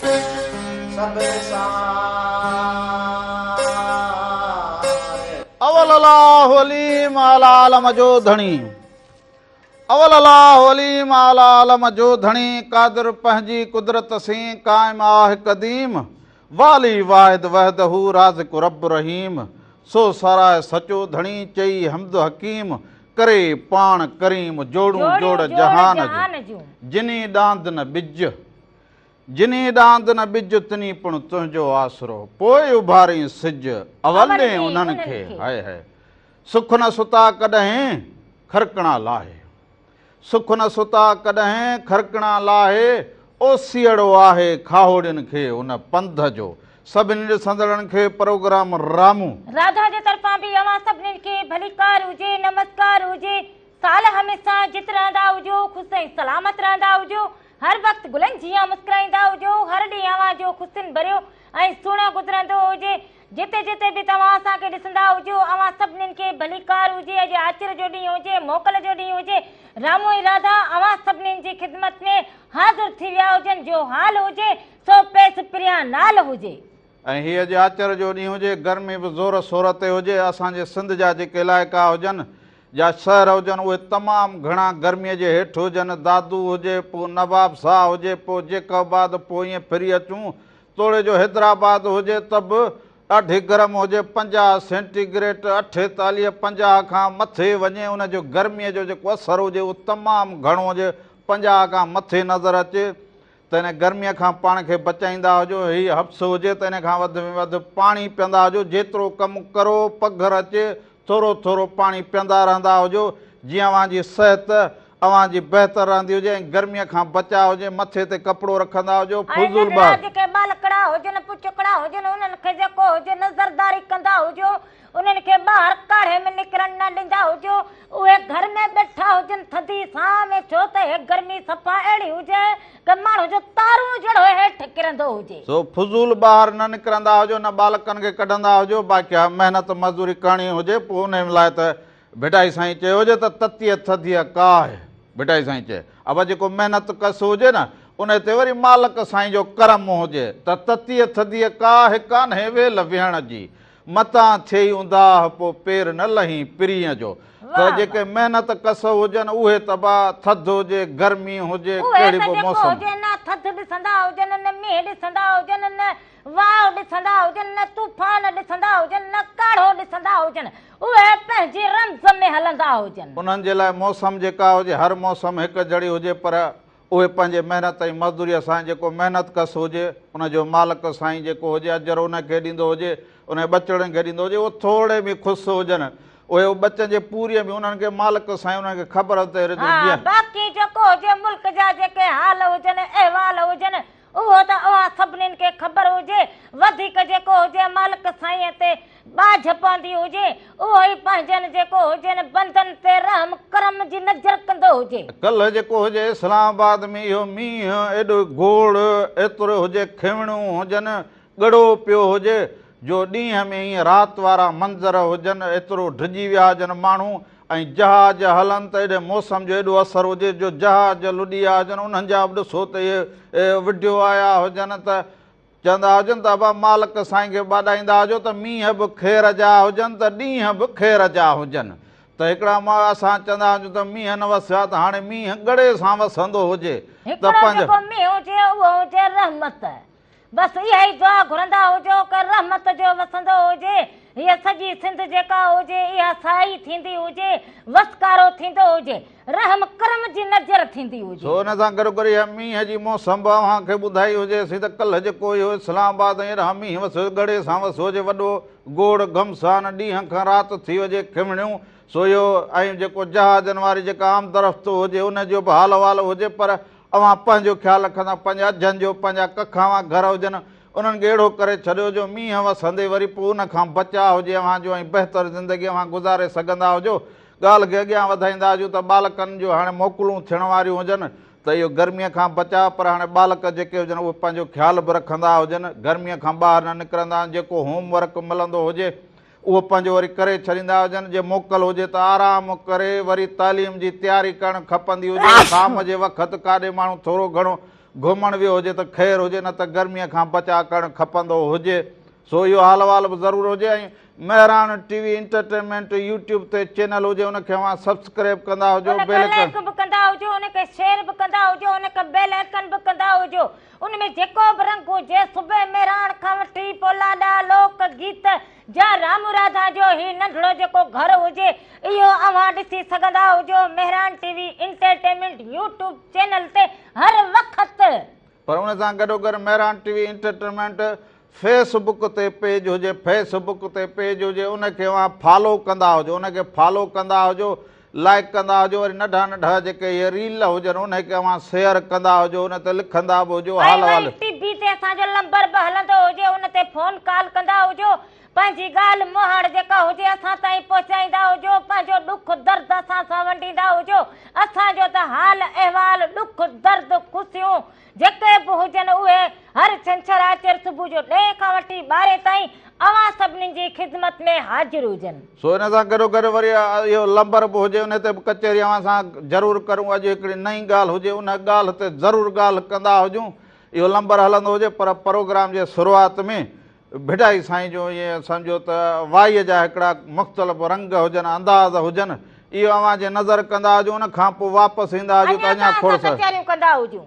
سڀ نثار. اول الاھ عليم اعليٰ علم جو ڌڻي اول الاھ عليم اعليٰ علم جو ڌڻي قادر پنهنجي قدرت سين قائم آھ قديم والي واحد وحده رازق رب رحيم سو ساراء سچو ڌڻي چئي حمد حڪيم ڪري پاڻ ڪريم جوڙون جوڙ جهان جون جني ڏاند نه ٻج جنھين ڏاند نه ٻج تنھين پڻ تنھنجو آسرو پوء اڀارين سج اول ڏي انھن کي ھائي ھائي سک نه ستا ڪڏھين کرڪڻا لاھي سک نه ستا ڪڏھين کرڪڻا لاھي اوسيئڙو آھي کاھوڙين کي ان پنڌ جو سڀني ڏسندڙن کي پروگرام رامو راڌا جي طرفان به اوھان سڀني کي ڀليڪار ھجي نمسڪار ھجي سال ھميسا جت رھندا ھجو خوش ۽ سلامت رھندا ھجو هر وقت گلن جيان مسڪرائيندا هجو، هر ڏينهن اوهان جو خصين ڀريو ۽ سهڻو گذرندو هجي، جتي جتي به توهان اسان کي ڏسندا هجو، اوهان سڀنين کي ڀليڪار هجي، اڄ آچر جو ڏينهن هجي، موڪل جو ڏينهن هجي، رامو ۽ راڌا اوهان سڀنين جي خدمت ۾ حاضر ٿي ويا هجن، جو حال هجي، سو پيس پريان نال هجي. ۽ هي اڄ آچر جو ڏينهن هجي، گرمي به زور سور تي هجي، اسان جي سنڌ جا جيڪي علائقا هجن، جا شهر هجن اهي تمام گهڻا گرميء جي هيٺ هجن، دادو هجي پو نواب ساهه هجي پو جيڪب آباد پو ائين ڦري اچون، توڙي جو حيدرآباد هجي ته به ڏاڍي گرم هجي پنجاهه سينٽي گريٽ، اٺيتاليهه پنجاهه کان مٿي وڃي ان جو گرميء جو جيڪو اثر هجي اهو تمام گهڻو هجي پنجاهه کان مٿي نظر اچي. ته هن گرميء کان پاڻ کي بچائيندا هجو، هي حبس هجي ته ان کان وڌ ۾ وڌ پاڻي پيئندا هجو، جيترو ڪم ڪرو، پگهر اچي، ٿورو ٿورو پاڻي پيئندا رهندا هجو، جيئن اوهان جي صحت اوهان جي بهتر رهندي هجي ۽ گرميء کان بچاء هجي، مٿي تي ڪپڙو رکندا هجو، فضول بحث. ۽ ننڍڙا جيڪي ٻالڪڙا هجن، پچڪڙا هجن، انهن کي جيڪو هجي نظرداري ڪندا هجو. انهن کي ٻاهر ڪاڙهي ۾ نڪرڻ نه ڏيندا هجو، اهي گهر ۾ ٻيٺا هجن ٿڌي سانء ۾ ڇو ته هي گرمي صفا اهڙي هجي ڪه ماڻهو جو تارون جهڙو هيٺ ڪرندو هجي. سو فضول ٻاهر نه نڪرندا هجو نه ٻالڪن کي ڪڍندا هجو باقي ها محنت مزدوري ڪرڻي هجي پوء انهن لاء ته ڀٽائي سائين چيو هجي ته تتيء ٿڌيء ڪاهه ڀٽائي سائين چئي اڀا جيڪو محنت ڪس هجي نه انهي تي وري مالڪ سائين جو ڪرم هجي ته تتيء ٿڌيء ڪاهه ڪانهي ويل ويهڻ جي متان ٿئي اونداهه پو پير نه لهين پرينء جو ته جيڪي محنت ڪس هجن اهي تباهه ٿڌ هجي گرمي هجي ڪهڙي به موسم ٿڌ ڏسندا هجن نه مينهن ڏسندا هجن نه واء ڏسندا هجن نه طوفان ڏسندا هجن نه ڪاڙهو ڏسندا هجن اهي پنهنجي رمز ۾ هلندا هجن. انهن جي لاء موسم جيڪا هجي هر موسم هڪ جھڙي هجي پر اهي پنهنجي محنت ۽ مزدوريء سان جيڪو محنت ڪس هجي، ان جو مالڪ سائين جيڪو هجي اجر ان کي ڏيندو هجي، انهن ٻچڙن کي ڏيندو هجي، اهي ٿورڙي ۾ خوس هجن. اهي او ٻچن جي پوريء ۾ انهن کي مالڪ سائين انهن کي خبر تي رڌو جيئن. ها باقي جيڪو هجي ملڪ جا جيڪي حال هجن، احوال هجن، اهو ته اوهان سڀنين کي خبر هجي، وڌيڪ جيڪو هجي مالڪ سائينء تي ٻاجهه پوندي هجي، اهو ئي پنهنجن جيڪو هجين بندن تي رحم ڪرم جي نظر ڪندو هجي. ڪلهه جيڪو هجي اسلام آباد ۾ اهو مينهن ايڏو گوڙ، ايترو هجي کيوڻيون هجن، ڳڙو پيو هجي، جو ڏينهن ۾ ائين رات وارا منظر هجن، ايترو ڊڄي ويا هجن ماڻهو، ۽ جهاز هلن ته ايڏي موسم جو ايڏو اثر هجي جو جهاز جو لڏي آيا هجن انهن جا به ڏسو ته اهي وڍيو آيا هجن ته چوندا هجن ته ابا مالڪ سائين کي ٻاڏائيندا هجو ته مينهن به خير جا هجن ته ڏينهن به خير جا هجن ته هڪڙا ماء اسان چوندا هجون ته مينهن نه وسيو آهي ته هاڻي مينهن ڳڙي سان وسندو هجي ته پنهنجو هڪڙو جيڪو مينهن هجي اهو هجي رحمت بس اها ئي دعا گهرندا هجو ڪر رحمت جو وسندو هجي هيء سڄي سنڌ جيڪا هجي اها سائي ٿيندي هجي وسڪارو ٿيندو هجي رحم ڪرم جي نظر ٿيندي هجي. سو ان سان گڏو گڏ اها مينهن جي موسم به اوهان کي ٻڌائي هجي سي ته ڪلهه جيڪو اهو اسلام آباد ۽ اڏانهن مينهن وسيو ڳڙي سان وسيو جي وڏو گوڙ گهمسان ڏينهن کان رات ٿي هجي کمڻيون سويو ۽ جيڪو جهازن واري جيڪا آمدرفت هجي ان جو به حال احوال هجي پر اوهان پنهنجو خيال رکندا، پنهنجا جهن جو، پنهنجا ڪکاوان گهر هجن، انهن ڳيڙهو ڪري ڇڏيو جو مينهن وسندي وري پوء ان کان بچاء هجي اوهان جو ۽ بهتر زندگي اوهان گذاري سگهندا هجو. ڳالهه کي اڳيان وڌائيندا هجون ته ٻالڪن جون هاڻي موڪلون ٿيڻ واريون هجن ته اهو گرميء کان بچاء پر هاڻي ٻالڪ جيڪي هجن اهي پنهنجو خيال به رکندا هجن، گرميء کان ٻاهر نه نڪرندا، جيڪو هوم ورڪ ملندو هجي، اهو پنهنجو وري ڪري ڇڏيندا هجن، جي موڪل هجي ته آرام ڪري وري تعليم جي تياري ڪرڻ کپندي هجي، شام جي وقت ڪاڏي ماڻهو ٿورو گهڻو گهمڻ ويو هجي ته خير هجي نه ته گرمي کان بچاء ڪرڻ کپندو هجي، سو اهو حال احوال به ضرور هجي ۽ Mehran T V entertainment YouTube تي چينل هجي ان کي اوهان سبسڪريب ڪندا هجو، بيل ڪن. لائيڪ به ڪندا هجو ان کي شيئر به ڪندا هجو ان کي بيل ائڪن به ڪندا هجو. ان ۾ جيڪو به رنگ هجي، صبح ميراڻ کان وٺي پولا ڏانهن لوڪ گيت جا رامو راڌا جو هي ننڍڙو جيڪو گهر هجي، اهو اوهان ڏسي سگهندا هجو Mehran T V entertainment YouTube channel تي هر وقت. پر ان سان گڏوگڏ Mehran T V entertainment Facebook تي پيج هجي فيس بڪ تي پيج هجي ان کي اوهان فالو ڪندا هجو ان کي فالو ڪندا هجو لائڪ ڪندا هجو وري ننڍا ننڍا جيڪي هي ريل هجن ان کي اوهان شيئر ڪندا هجو ان تي لکندا به هجو حال حال ٽي بي تي اسان جو لمبر به هلندو هجي ان تي فون ڪال ڪندا هجو پنهنجي ڳالهه مهاڙ جيڪا هجي اسان تائين پهچائيندا هجو پنهنجو ڏک درد اسان سان ونڊيندا هجو اسان جو ته حال احوال ڏک درد خوشيون جيڪي به هجن اهي هر ڇنڇر آچر صبح جو ڏهين کان وٺي ٻارهين تائين اوهان سڀني جي خدمت ۾ حاضر هجن. سو ان سان گڏوگڏ وري اهو لنبر به هجي ان تي به ڪچهري اوهان سان ضرور ڪرون اڄ هڪڙي نئين ڳالهه هجي ان ڳالهه تي ضرور ڳالهه ڪندا هجون اهو لنبر هلندو هجي پر پروگرام جي شروعات ۾ ڀٽائي سائين جو ائين سمجهو ته وائيء جا هڪڙا مختلف رنگ هجن، انداز هجن، اهو اوهان جي نظر ڪندا هجون، ان کان پوء واپس ايندا هجون ته اڃا ٿورس. اڃا ته اسان ڪچهريون ڪندا هجون.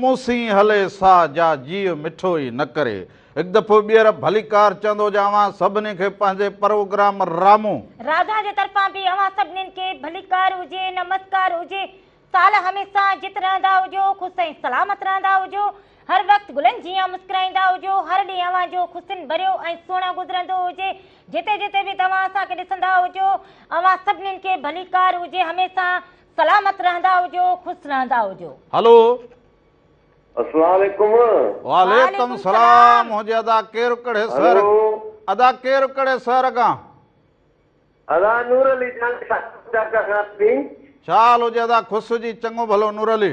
مون سين هلي ساهه جا جيء مٺو ئي نه ڪري. هڪ دفعو ٻيهر ڀليڪار چوندو جو اوهان سڀني کي پنهنجي پروگرام رامو. راڌا جي طرفان به اوهان سڀنين کي ڀليڪار هجي، نمسڪار هجي. سال هميشه جت رهندا هجو، خوش ۽ سلامت رهندا هجو. هر وقت گلن جيان مسڪرائيندا هجو. هر ڏينهن اوهان جو خوشين ڀريو ۽ سهڻو گذرندو هجي. جتي جتي به توهان اسان کي ڏسندا هجو. اوهان سڀنين کي ڀليڪار هجي. هميشه. سلامت رهندا هجو خوش رهندا هجو. هلو اسلام عليڪم وعليڪم السلام منهنجي ادا ڪير ڪهڙي شهر ادا ڪير ڪهڙي شهر کان ادا نور علي جان ڇا حال هجي ادا خوش هجي چڱو ڀلو نور علي.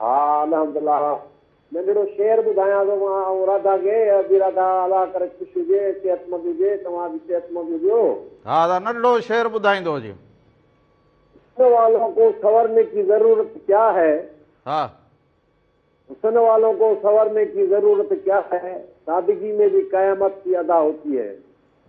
ها الحمدالله ننڍڙو شعر ٻڌايان ٿو مان ۽ راڌا کي ابي راڌا الله ڪري خوش هجي صحتمند هجي توهان به صحتمند هجو. ها ادا ننڍڙو شعر ٻڌائيندو هجي. حسن والون ڪو سنورني ڪي ضرورت ڪيا هي. ها. حسن والون ڪو سنورني ڪي ضرورت ڪيا هي سادگي مين بي قيامت سي ادا هوتي هي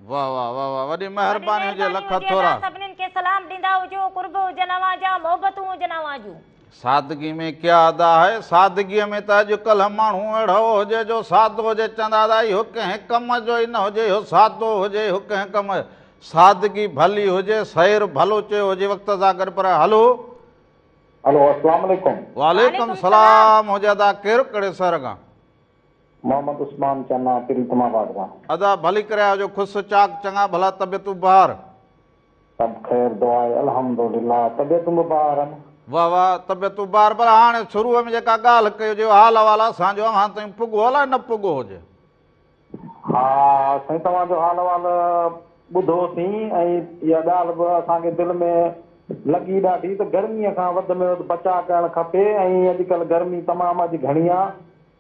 واه واه واه واه وڏي مهرباني هجي لک ٿورا. سڀنين کي سلام ڏيندا هجو قرب هجن اوهان جا محبتون هجن اوهان جون. سادگي ۾ ڪيا ادا هي سادگي ۾ ته اڄڪلهه ماڻهو اهڙو هجي جو سادو هجي چوندا ادا اهو ڪنهن ڪم جو ئي نه هجي اهو سادو هجي اهو ڪنهن ڪم سادگي ڀلي هجي سير ڀلو چيو هجي وقت سان گڏ پر هلو هلو السلام عليڪم وعليڪم سلام هجي ادا ڪير ڪهڙي شهر کان محمد عثمان چنا ٽل تما واٽ مان. ادا ڀلي ڪري آجو خوس چاڪ چڱا ڀلا طبيعتون بهار. سڀ خير دعا آهي الحمدلله طبيعتون به بهار آهن. واه واه طبيعتون بهار پر هاڻي شروع ۾ جيڪا ڳالهه ڪيو جيو حال احوال اسان جو اوهان تائين پڳو الائي نه پڳو هجي. ها سائين توهان جو حال احوال ٻڌو سين ۽ اها ڳالهه به اسان کي دل ۾ لڳي ڏاڍي ته گرمي کان وڌ ۾ وڌ بچاء ڪرڻ کپي ۽ اڄ ڪلهه گرمي تمام اڄ گهڻي آهي.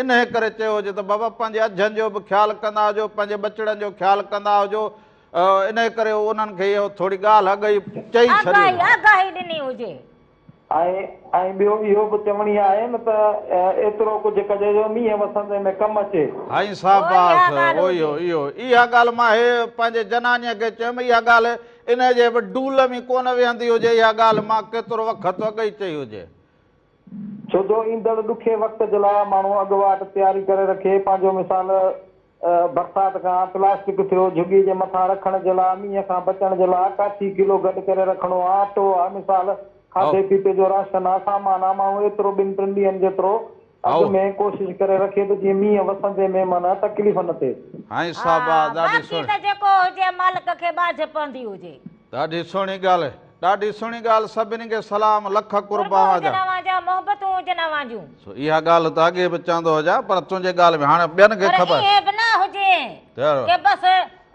انهيء ڪري چيو هجي ته بابا پنهنجي اجهن جو به خيال ڪندا هجو، پنهنجي ٻچڙن جو خيال ڪندا هجو. انهيء ڪري هو انهن کي اهو ٿوري ڳالهه اڳ ئي چئي ڇڏي هئي. آگاهي ڏني هجي. ۽ ٻيو اهو به چوڻي آهي نه ته ايترو ڪجهه ڪجهه جو مينهن وسندي ۾ ڪم اچي. هائين شاباس اهو ئي هو. اهو اها ڳالهه مان هي پنهنجي جنانيء کي چيم اها ڳالهه انهيء جي به ڊول ۾ ڪونه ويهندي هجي اها ڳالهه مان ڪيترو وخت اڳ ئي چئي هجي. ڇو جو ايندڙ ڏکي وقت جي لاء ماڻهو اڳواٽ تياري ڪري رکي، پنهنجو مثال برسات کان پلاسٽڪ ٿيو، جهڳي جي مٿان رکڻ جي لاء، مينهن کان بچڻ جي لاء ڪاٺي ڪلو گڏ ڪري رکڻو آ، اٽو آ، مثال کاڌي پيتي جو راشن آ، سامان آ، ماڻهو ايترو ٻن ٽن ڏينهن جيترو اڳ ۾ ڪوشش ڪري رکي ته جيئن مينهن وسندي مهمان تڪليف نه ٿئي. ها باقي ته جيڪو هجي مالڪ کي ٻاجهه پوندي هجي. ڏاڍي سهڻي ڳالهه ڏاڍي سهڻي ڳالهه سڀني کي سلام لک قرب اوهان جا. قرب هجن اوهان جا محبتون هجن اوهان جون. سو اها ڳالهه ته اڳي به چوندو هجان پر تنهنجي ڳالهه ۾ هاڻي ٻين کي خبر. پر ائين به نه هجي ته بس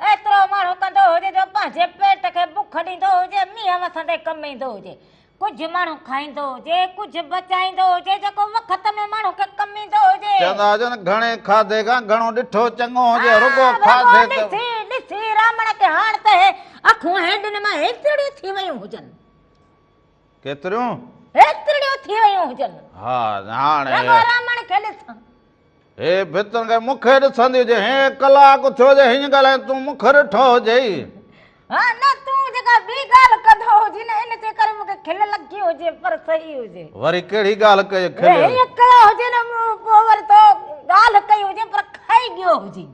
ايترو ماڻهو ڪندو هجي جو پنهنجي پيٽ کي بک ڏيندو هجي مينهن وسندي ڪم ايندو هجي ڪجهه ماڻهو کائيندو هجي، ڪجهه بچائيندو هجي، جيڪو وقت ۾ ماڻهو کي ڪم ايندو هجي. چوندا هجن گهڻي کاڌي کان گهڻو ڏٺو چڱو هجي، رڳو کاڌي ته. ڏسي ڏسي رامڻ کي هاڻ ته هي اکون هيڊن مان هيترڙيون ٿي ويون هجن. ڪيتريون؟ هيترڙيون ٿي ويون هجن. ها هاڻ هي. رڳو رامڻ کي ڏسان. هيء ڀتن کي مون کي ڏسندي هجي. هيء ڪلاڪ ٿيو هجي هيئن ڳالهائين تون مون کي ڏٺو هجئي. ها نه تون جيڪا ٻي ڳالهه ڪندو هجين ان جي ڪري مون کي کل لڳي هجي پر صحيح هجي. وري ڪهڙي ڳالهه ڪئي کل. هيئن ڪيو هجين مون پوء وري تو ڳالهه ڪئي هجين پر کائي ڳيو هجين.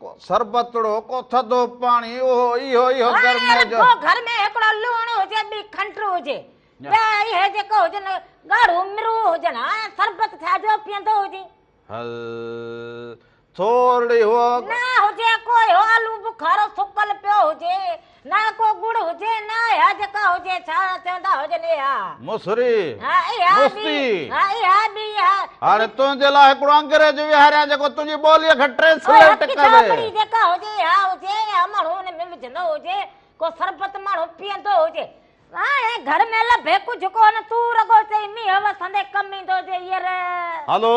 ڪو سربتڙو ڪو ٿڌو پاڻي اهو اهو اهو گرمي جو رڳو گهر ۾ هڪڙو لوڻ هجي ٻي کنڊ هجي ٻيا اهي جيڪو هجن ڳاڙهو مرو هجن ها سربت ٿيا جو پيئندو هجي هل ٿورڙي هو نه هجي ڪو اهو آلو بخارو سڪل پيو هجي نه ڪو ڳڙ هجي نه اها جيڪا هجي ڇا چوندا هجن اها. مصري. ها اها مستي. ها اها ٻي اها. هاڻي تنهنجي لاء هڪڙو انگريزي ويهاريان جيڪو تنهنجي ٻوليء کي ٽرينسليٽ ڪري. ڪو هڪ ڇاٻڙي جيڪا هجي اها هجي يا ماڻهو ان ۾ وجهندو هجي ڪو سربت ماڻهو پيئندو هجي. هاڻي گهر ۾ لڀي ڪجهه ڪونه تون رڳو چئين مينهن وسندي ڪم ايندو جي ير. هلو.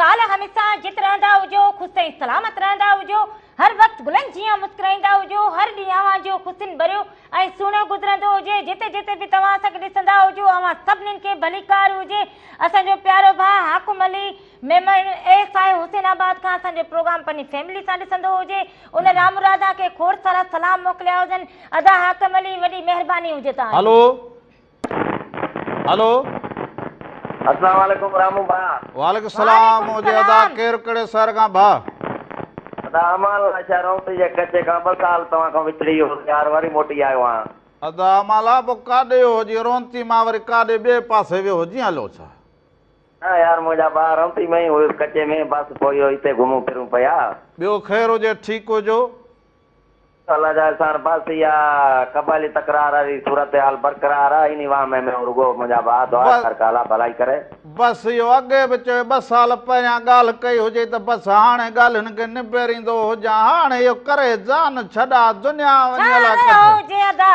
سال هميسا جت رهندا هجو خوش ۽ سلامت رهندا هجو هر وقت گلن جيان مسڪرائيندا هجو هر ڏينهن اوهان جو حسن ڀريو ۽ سهڻو گذرندو هجي جتي جتي به توهان اسان کي ڏسندا هجو اوهان سڀنين کي ڀليڪار هجي اسان جو پيارو ڀاء Hakim Ali Memon A S I Hussainabad کان اسان جو پروگرام پنهنجي فيملي سان ڏسندو هجي ان رامرادا کي کوڙ سارا سلام موڪليا هجن ادا حاڪم علي وڏي مهرباني هجي توهان جي هلو هلو اسلام عليڪم رامو ڀاء وعليڪم السلام مونجي ادا ڪير ڪھڙي شهر کان ڀاء ادا امان الله شهر اومري جي ڪچي کان ٻه سال توهان کان وڇڙي ويو هوس يار وري موٽي آيو آهيان ادا امان الله پوء ڪاڏي ويو هجين رونتي مان وري ڪاڏي ٻئي پاسي ويو هجين هلو ڇا نه يار مونجا ڀاء رونتي ۾ ئي هيس ڪچي ۾ بس پوء اهو هتي گهمون ڦرون پيا ٻيو خير هجي ٺيڪ هجو سالا جا احسان عباسي يا قبائلي تڪرار واري صورتحال برقرار آ انهي وهمي ۾ هو رڳو منهنجا ڀاء دعا بس ڪر ڪا الله ڀلائي ڪري. بس اهو اڳي به چيو ٻه سال پهريان ڳالهه ڪئي هجي ته بس هاڻي ڳالهين کي نبيريندو هجان هاڻي اهو ڪري جان ڇڏا دنيا ڇا وڃي الاء ڪٿي. هيو هجي ادا.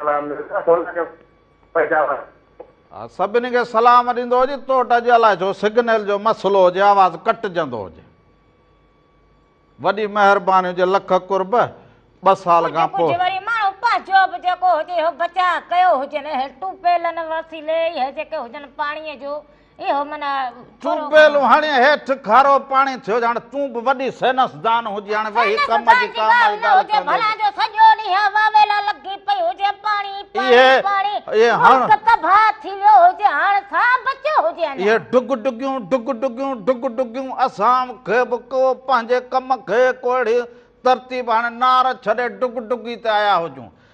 سلام مرزا سونا جو پيداوار. ها سڀني کي سلام ڏيندو هجي توٽ اڄ الائي ڇو سگنل جو مسئلو هجي آواز ڪٽجندو هجي وڏي مهرباني هجي لک قرب ٻه سال کان پوء پنهنجو به جيڪو هجي اهو بچاء ڪيو هجن اهي ٽيوب ويلن وسيلي اهي جيڪي هجن پاڻي جو چوب به لوهاڻي هيٺ کارو پاڻي ٿيو ڄاڻ تون به وڏي سينس دان هجي هاڻي وهي ڪم جي ڪا مال ڳالهه ڪندي ڀلا جو سڄو ڏينهن واويلا لڳي پئي هجي پاڻي پاڻي پاڻي ملڪ تباهه ٿي ويو هجي هاڻ ڇا بچيو هجي اڃا اهي ڊگ ڊگيون ڊگ ڊگيون ڊگ ڊگيون اسان کي به ڪو پنهنجي ڪم کي ڪو اهڙي ترتيب هاڻي نار ڇڏي ڊگ ڊگي تي آيا هجون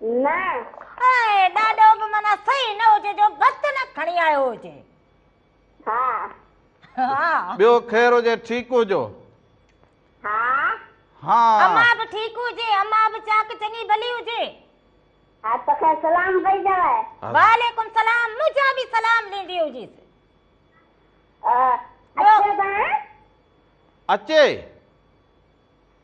نه. اهي ڏاڏو به معنيٰ صحيح نه هجي جو ڀت نه کڻي آيو هجي. ها. ها. ٻيو خير هجي ٺيڪ هجو. ها. ها. امان به ٺيڪ هجي. امان به چاڪ چڱي ڀلي هجي. ها ته کين سلام پئي چوي. وعليڪم سلام منهنجا به سلام ڏيندي هجيس. اچي ته. اچي.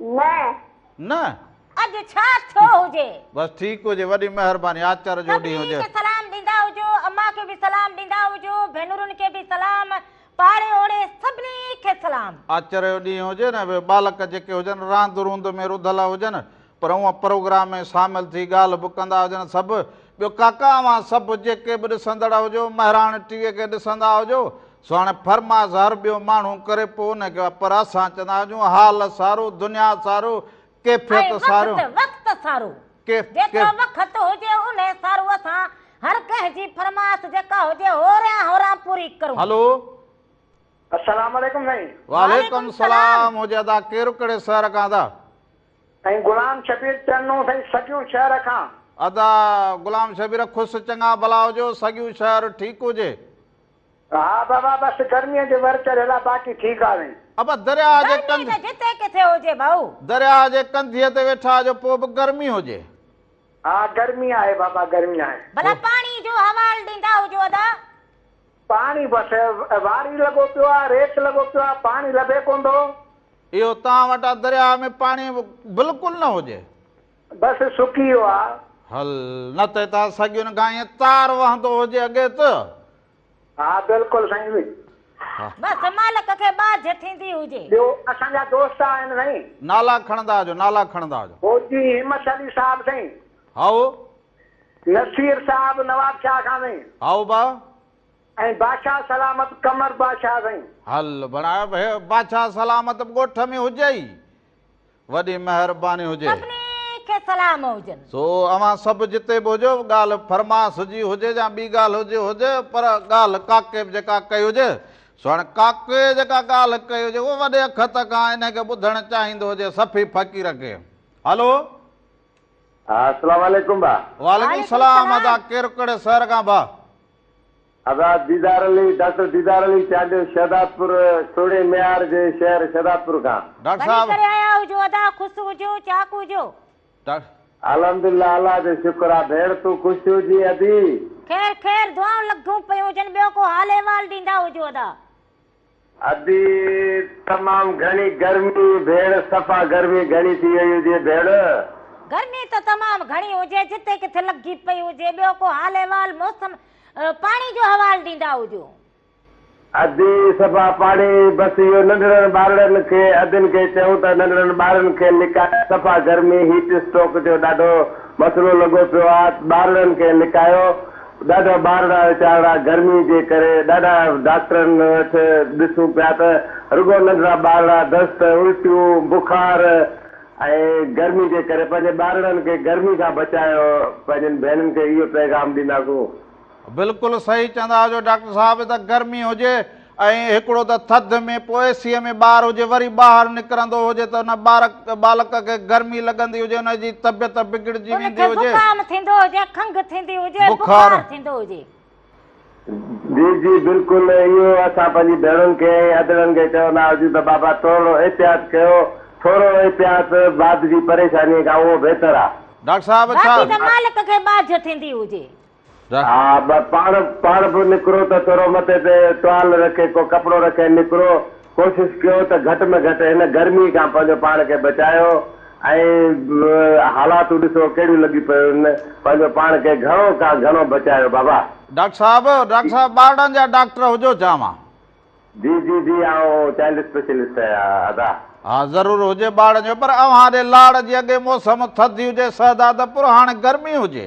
نه. نه. اڄ ڇا ٿيو هجي؟ بس ٺيڪ هجي. وڏي مهرباني. آچر جو ڏينهن هجي. سڀني کي سلام ڏيندا هجو. امان کي به سلام ڏيندا هجو. ڀينرن کي به سلام. پاڙي اوڙي سڀني کي سلام. آچر جو ڏينهن هجي نه. اهي ٻالڪ جيڪي هجن راند روند ۾ رڌل هجن. پر اوهان پروگرام ۾ شامل ٿي ڳالهه به ڪندا هجڻ سڀ ٻيو ڪاڪا اوهان سڀ جيڪي به ڏسندڙ هجو مهراڻ ٽي وي کي ڏسندا هجو سو هاڻي فرماس هر ٻيو ماڻهو ڪري پو ان کي پر اسان چوندا هجون حال سارو دنيا سارو ڪيفيت سارو ۽ وقت وقت سارو جيترو وقت هجي ان سارو اسان هر ڪنهن جي فرماس جيڪا هجي هوريان هوران پوري ڪرون هلو السلام عليڪم سائين وعليڪم السلام هجي ادا ڪير ڪهڙي شهر کان ادا ۽ غلام شبير چرنو سائين سگيون شهر کان. ادا غلام شبير خس چڱا ڀلا هجو سڳيون شهر ٺيڪ هجي. ها بابا بس گرمي جي ور چڙهيل آ باقي ٺيڪ آ سائين. ابا درياء جي ڪنڌ. گرمي ته جتي ڪٿي هجي ڀائو. درياء جي ڪنڌيء تي ويٺا آجو پو به گرمي هجي. ها گرمي آهي بابا گرمي آهي. ڀلا پاڻي جو حوال ڏيندا هجو ادا. پاڻي بس واري لڳو پيو آ ريت لڳو پيو آ پاڻي لڀي ڪون ٿو. اهو توهان وٽ آ درياء ۾ پاڻي بلڪل نه هجي. بس سڪي ويو آ. هل نه ته هتان سڳين کان ائين تار وهندو هجي اڳي ته. ها بلڪل سائين. ها. بس مالڪ کي ٻاجهه ٿيندي هجي. ٻيو اسان جا دوست آهن سائين. نالا کڻندا هجو نالا کڻندا هجو. فوجي همت علي صاحب سائين. هائو نصير صاحب نواب شاهه خان سائين. هائو با. ۽ بادشاهه سلامت قمر بادشاهه سائين. هل بڻاء به بادشاهه سلامت به ڳوٺ ۾ هجئي. وڏي مهرباني هجي. سڀني کي سلام هجن. سو اوهان سڀ جتي به هجو ڳالهه فرماس جي هجي يا ٻي ڳالهه جي هجي پر ڳالهه ڪاڪي به جيڪا ڪئي هجي سو هاڻي ڪاڪي جيڪا ڳالهه ڪئي هجي اهو وڏي اکت کان انهي کي ٻڌڻ چاهيندو هجي صفي فقير کي هلو. ها اسلام عليڪم با. وعليڪم السلام ادا ڪير ڪهڙي شهر کان با. ادا ديدار علي ڊاڪٽر ديدار علي چانڊيو شهداد پور سهڻي ميار جي شهر شهداد پور کان. ڊاڪٽر صاحب. ڀلي ڪري آيا هجو ادا خوس هجو چاق هجو. ڊاڪٽر. الحمدلله الله جو شڪر آ ڀيڻ تون خوش هجين ادي. خير خير دعائون لڳون پيون هجن ٻيو ڪو حال احوال ڏيندا هجو ادا. ادي تمام گهڻي گرمي ڀيڙ. صفا گرمي گهڻي ٿي وئي هجي ڀيڙ. گرمي ته تمام گهڻي هجي جتي ڪٿي لڳجي پئي هجي ٻيو ڪو حال احوال موسم پاڻي جو حوال ڏيندا هجو. ادي صفا پاڻي بس اهو ننڍڙن ٻارڙن کي ادين کي چئون ته ننڍڙن ٻارڙن کي لڪايو صفا گرمي هيٽ اسٽروڪ جو ڏاڍو مسئلو لڳو پيو آ ٻارڙن کي لڪايو ڏاڍا ٻارڙا ويچارڙا گرمي جي ڪري ڏاڍا ڊاڪٽرن وٽ ڏسون پيا ته رڳو ننڍڙا ٻارڙا دست، الٽيون، بخار ۽ گرمي جي ڪري پنهنجي ٻارڙن کي گرمي کان بچايو پنهنجين ڀينرن کي اهو پيغام ڏينداسون. بلڪل صحيح چوندا آهيو ڊاڪٽر صاحب ته گرمي هجي ۽ هڪڙو ته ٿڌ ۾ پوء اي سيء ۾ ٻار هجي وري ٻاهر نڪرندو هجي ته ان ٻالڪ کي گرمي لڳندي هجي ان جي طبيعت بگڙجي ان ويندي کي هجي. زڪام ٿيندو هجي کنگهه ٿيندي هجي ۽ بخار. بخار ٿيندو هجي. جي جي بلڪل اهو اسان پنهنجي ڀيڻن کي ۽ ادڙن کي چوندا هجون ته بابا ٿورڙو احتياط ڪيو ٿورڙو احتياط بعد جي پريشاني کان اهو بهتر آ. ڊاڪٽر صاحب ڇا. باقي ته مالڪ کي ٻاجهه ٿيندي هجي. رک. ها بس پاڻ پاڻ به نڪرو ته ٿورو مٿي تي ٽوال رکي ڪو ڪپڙو رکي نڪرو ڪوشش ڪيو ته گهٽ ۾ گهٽ هن گرمي کان پنهنجو پاڻ کي بچايو ۽ حالاتون ڏسو ڪهڙيون لڳي پيون پنهنجو پاڻ کي گهڻو کان گهڻو بچايو بابا. ڊاڪٽر صاحب ڊاڪٽر صاحب ٻارڙن جا ڊاڪٽر هجو چانوان. جي جي جي آئون چائلڊ اسپيشلسٽ آهيان ادا. ها ضرور هجي ٻارڙن جو پر اوهان ڏي لاڙ جي اڳي موسم ٿڌي هجي سهدا ته پر هاڻي گرمي هجي.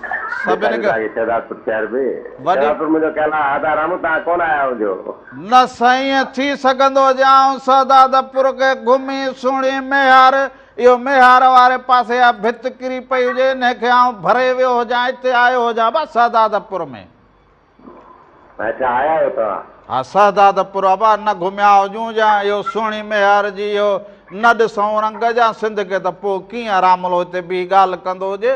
سڀني کان شهدادپور شهر به وڏي شهدادپور منهنجو ڪيل آ آدا رامو تان ڪون آيا هجو. نه سائين ٿي سگهندو جي آئون سهدادپور کي گهمي سهڻي ميهار اهو ميهار واري پاسي اها ڀت ڪري پئي هجي انهي کي آئون ڀري ويو هجان اتي آيو هجان ابا سهدادپور ۾. اچا آيا آهيو توهان. ها سهدادپور ابا نه گهميا هجون جي آئون اهو سهڻي ميهار جي اهو نه ڏسون رنگ جي آئون سنڌ کي ته پوء ڪيئن راملو هتي بيهي ڳالهه ڪندو هجي.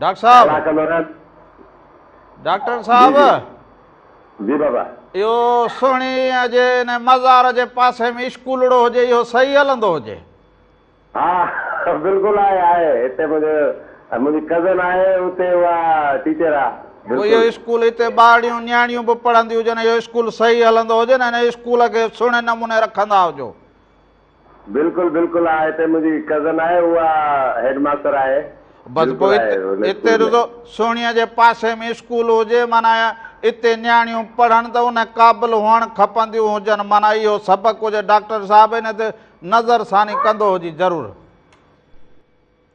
ڊاڪٽر صاحب ڊاڪٽر صاحب جي بابا اهو سهڻي جي ان مزار جي پاسي ۾ اسڪولڙو هجي اهو صحيح هلندو هجي ها بلڪل آهي آهي هتي منهنجو منهنجي ڪزن آهي هتي اها ٽيچر آ اهو اسڪول هتي ٻارڙيون نياڻيون به پڙهنديون هجن اهو اسڪول صحيح هلندو هجي نه ان اسڪول کي سهڻي نموني رکندا هجو بلڪل بلڪل آ هتي منهنجي ڪزن آهي اها هيڊ ماستر آهي بس پوء اتي رضو سهڻيء جي پاسي ۾ اسڪول هجي معنيٰ اتي نياڻيون پڙهن ته ان قابل هئڻ کپنديون هجن معنيٰ اهو سڀ ڪجهه ڊاڪٽر صاحب هن تي نظر ثاني ڪندو هجي ضرور.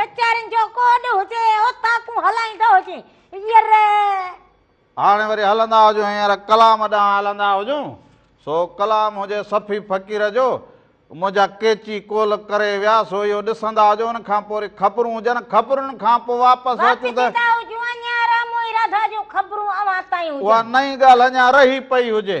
ڪچهرين جو ڪوڏ هجي اتان ڪون هلائيندو هجين ير هاڻي وري هلندا هجون هينئر ڪلام ڏانهن هلندا هجون سو ڪلام هجي صفي فقير جو منهنجا ڪيچي ڪول ڪري ويا سو اهو ڏسندا هجو ان کان پوء وري خبرون هجن خبرن کان پوء واپس اچون ته اها نئين ڳالهه اڃا رهي پئي هجي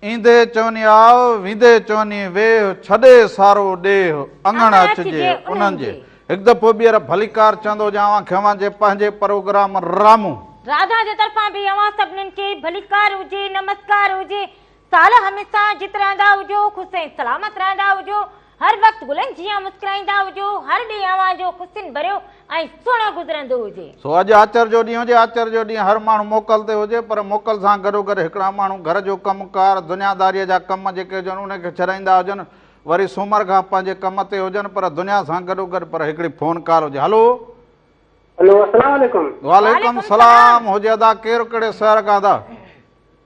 ايندي چوني آء، ويندي چوني ويھ، ڇڏي سارو ڏيھ، اڱڻ اچجي انھن جي. ھڪ دفعو ٻيھر ڀليڪار چوندو ھو جا اوھان کي اوھان جي پنھنجي پروگرام رامو. راڌا جي طرفان به اوھان سڀنن کي ڀليڪار ھجي، نمسڪار ھجي. سال ھميسا جت رھندا ھجو، خوش ۽ سلامت رھندا ھجو. هر وقت گلن جيان مسڪرائيندا هجو، هر ڏينهن اوهان جو خوشين ڀريو ۽ سهڻو گذرندو هجي. سو اڄ آچر جو ڏينهن هجي، آچر جو ڏينهن هر ماڻهو موڪل تي هجي پر موڪل سان گڏوگڏ هڪڙا ماڻهو گهر جو ڪم ڪار، دنياداريء جا ڪم جيڪي هجن انهن کي ڇڏائيندا هجن، وري سومر کان پنهنجي ڪم تي هجن پر دنيا سان گڏوگڏ پر هڪڙي فون ڪال هجي. هلو! هلو السلام عليڪم. وعليڪم السلام هجي ادا ڪير ڪهڙي شهر کان ادا؟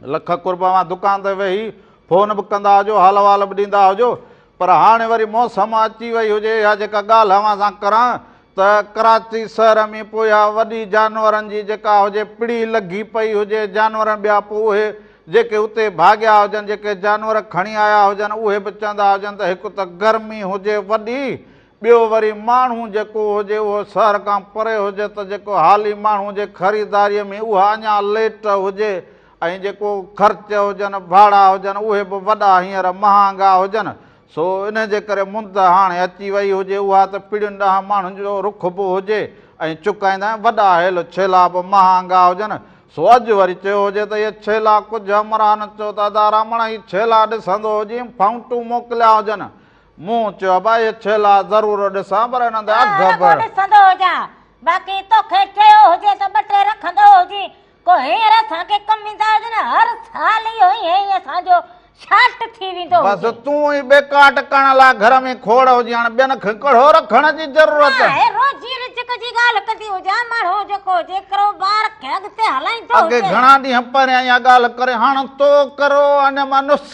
لک قرب اوهان دڪان تي ويهي فون به ڪندا هجو حال احوال به ڏيندا هجو پر هاڻي وري موسم اچي وئي هجي يا جيڪا ڳالهه اوهان سان ڪران ته ڪراچي شهر ۾ پويا وڏي جانورن جي جيڪا هجي پڙي لڳي پئي هجي جانورن ٻيا پو اهي جيڪي اتي ڀاڳيا هجن جيڪي جانور کڻي آيا هجن اهي به چوندا هجن ته هڪ ته گرمي هجي وڏي ٻيو وري ماڻهو جيڪو هجي اهو شهر کان پري هجي ته جيڪو حالي ماڻهو جي خريداريء ۾ اها اڃا ليٽ هجي ۽ جيڪو خرچ هجن، ڀاڙا هجن، اهي به وڏا هينئر مهانگا هجن، سو انهيء جي ڪري مند هاڻي اچي ويئي هجي اها ته پيڙهين ڏهن ماڻهن جو رخ به هجي ۽ چڪائيندن ۽ وڏا هيل ڇيلا به مهانگا هجن، سو اڄ وري چيو هجي ته اهي ڇيلا ڪجهه همراهن چيو ته ادا رامڻ هي ڇيلا ڏسندو هجين فائونٽون موڪليا هجن مون چيو به اهي ڇيلا ضرور ڏسان پر انهن تي اک به. رڳو ڏسندو هجان. باقي توکي چيو هجي ته ٻه ٽي رکندو هجين. ڪو هينئر اسان کي ڪم ايندا هجن. هر سال اهو ئي هينئين اسان جو شالٽ ٿي ويندو هجي. بس تون ئي ٻيڪاٽ ڪرڻ لاء گهر ۾ کوڙ هجين. هاڻ ٻين کي ڪڙهو رکڻ جي ضرورت. نه آهي. روزي رزق جي ڳالهه ڪندي هجان. ماڻهو جيڪو هجي ڪروبار کي اڳتي هلائيندو هجي. اڳي گهڻا ڏينهن پهريان اها ڳالهه ڪري هاڻ تو ڪرو انهن مان نسخا.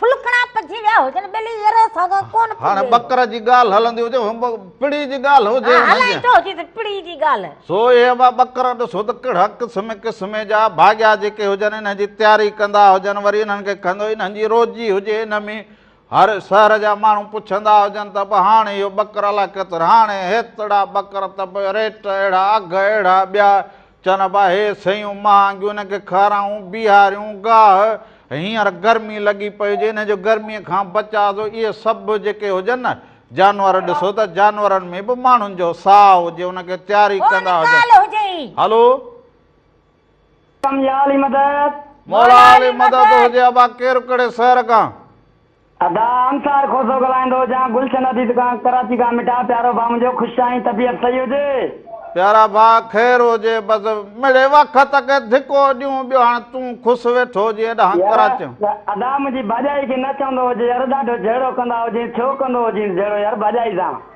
ڦلڪڻا پجي ويا هجن ٻلي يرو ساڳا ڪون پجي هاڻ ٻڪر جي ڳالهه هلندي هجي پڙي جي ڳالهه هجي هلائي ٿو جي ته پڙي جي ڳالهه سو اهي ابا ٻڪر ڏسو ته ڪهڙا قسم قسم جا ڀاڳيا جيڪي هجن انهن جي تياري ڪندا هجن وري انهن کي کنڌو انهن جي روزي هجي انهن ۾ هر شهر جا ماڻهو پڇندا هجن ته به هاڻ اهو ٻڪر الاء ڪيترو هاڻي هيترا ٻڪر ته به ريٽ اهڙا اگهه اهڙا ٻيا چن ابا هي سيون مهانگيون هن کي کارائون بيهاريون گاهه هينئر گرمي لڳي پئي هجي هن جو گرمي کان بچاء جو اهي سڀ جيڪي هجن نه جانور ڏسو ته جانورن ۾ به ماڻهن جو ساهه هجي ان کي تياري ڪندا هجن هلو مولا علي مدد هجي ابا ڪير ڪهڙي شهر کان. ادا انصار کوسو ڳالهائيندو هجان گلشن اديت کان ڪراچي کان مٺا پيارو ڀا منهنجو خوش آهين طبيعت صحيح هجي. پيارا ڀاء خير هجي بس مڙي وخت کي ڌڪو ڏيون ٻيو هاڻ تون خوس ويٺو هجين اڏانهن يار ڪراچيون. ادا منهنجي ڀاڄائي کي نه چوندو هجي يار ڏاڍو جهيڙو ڪندا هجين ڇو ڪندو هجينس جهيڙو يار ڀاڄائي سان.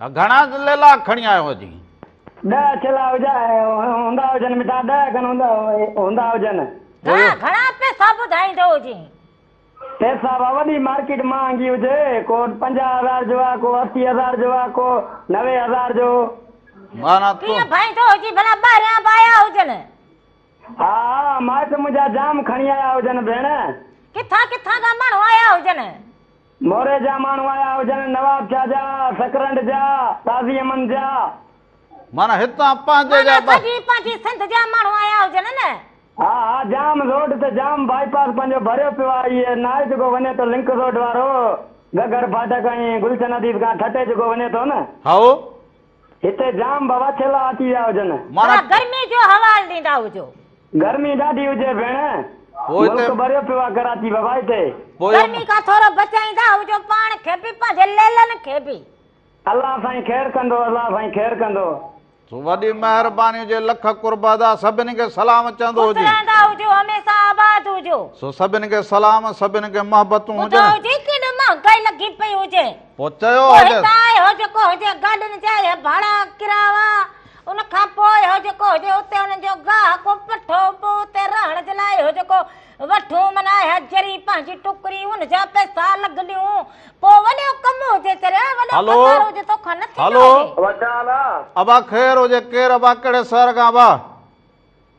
گهڻا ليلا کڻي آيو هجين. ڏهه اڇلا هجا هوندا هجن. مٺا ڏهه کن هوندا هجن. گهڻا گهڻا پئسا ٻڌائيندو هجين. پئسا وا وڏي مارڪيٽ مهانگي هجي. ڪو پنجاهه هزار جو آ، ڪو اسي هزار جو آ، ڪو نوي هزار جو. معنيٰ تون. ڪيئن ڀائيندو هجين ڀلا ٻاهريان به آيا هجن. ها ها مائٽ منهنجا جام کڻي آيا هجن ڀيڻ. ڪٿان ڪٿان کان ماڻهو آيا هجن. موري جا ماڻهو آيا هجن، نواب شاهه جا، سڪرنڊ جا، قاضي امن جا. معنيٰ هتان پنهنجي جا معنيٰ ٻه. سڄي پنهنجي سنڌ جا ماڻهو آيا هجن نه. ها ها جام روڊ تي جام بائي پاس پنهنجو ڀريو پيو آ هي ناهي جيڪو وڃي ٿو لنڪ روڊ وارو گگهر ڦاٽڪ ۽ گلشن حديث کان ٺٽي جيڪو وڃي ٿو نه. هائو. هتي جام بواڇيلا اچي ويا هجن. ڀلا گرمي جو حوال ڏيندا هجو. گرمي ڏاڍي هجي ڀيڻ. ملڪ ٻريو پيو آ ڪراچي بابا هتي. گرمي کان ٿورو بچائيندا هجو پاڻ کي به پنهنجي ليلن کي به. الله سائين خير ڪندو الله سائين خير ڪندو. وڏي مهرباني هجي لک قرب ادا سڀني کي سلام چوندو هجي. خوش رهندا هجو هميشه آباد هجو. سو سڀني کي سلام سڀني کي محبتون هجن. ٻڌايو جي ڪيڏو مهانگائي لڳي پئي هجي. پوء چيو پوء هجس. هتان آء هو جيڪو هجي گاڏين جا اهي ڀاڙا ڪراوا. ان کان پوء هو جيڪو هجي اتي انهن جو گاهه ڪو پٺو به اتي رهڻ جي لاء هو جيڪو وٺون من آء حجري پنهنجي ٽڪري ان جا پئسا لڳ ڏيون. پوء وڏو ڪم هجي چريا وڏو هلو پگهار هجي توکان نه ٿيندو هلو. هجي. ابا ڇا حال آ؟ ابا خير هجي ڪير ابا ڪهڙي شهر کان ابا؟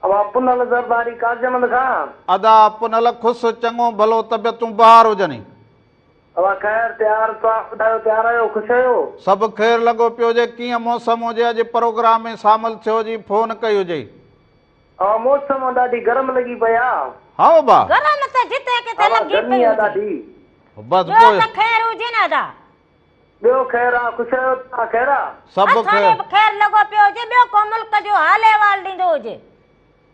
ابا پنهل زرداري قاضيمند کان. ادا پنهل خوش چڱو ڀلو طبيعتون بهار هجني. اوهان خير تيار توهان ٻڌايو تيار آهيو خوش آهيو. سڀ خير لڳو پيو هجي ڪيئن موسم هجي اڄ پروگرام ۾ سامل ٿيو جي فون ڪئي هجئي. اوهان موسم ڏاڍي گرم لڳي پئي آ. هائو با. گرم ته جتي ڪٿي اوهان لڳي گرمي پئي آ هجي. ڏاڍي. بس ٻيو پوء. ته خير هجي نه ادا. ٻيو خير آ خوش آهيو توهان خير آ. سڀ اسان کي خير. به خير لڳو پيو هجي ٻيو ڪو ملڪ جو حال احوال ڏيندو هجي.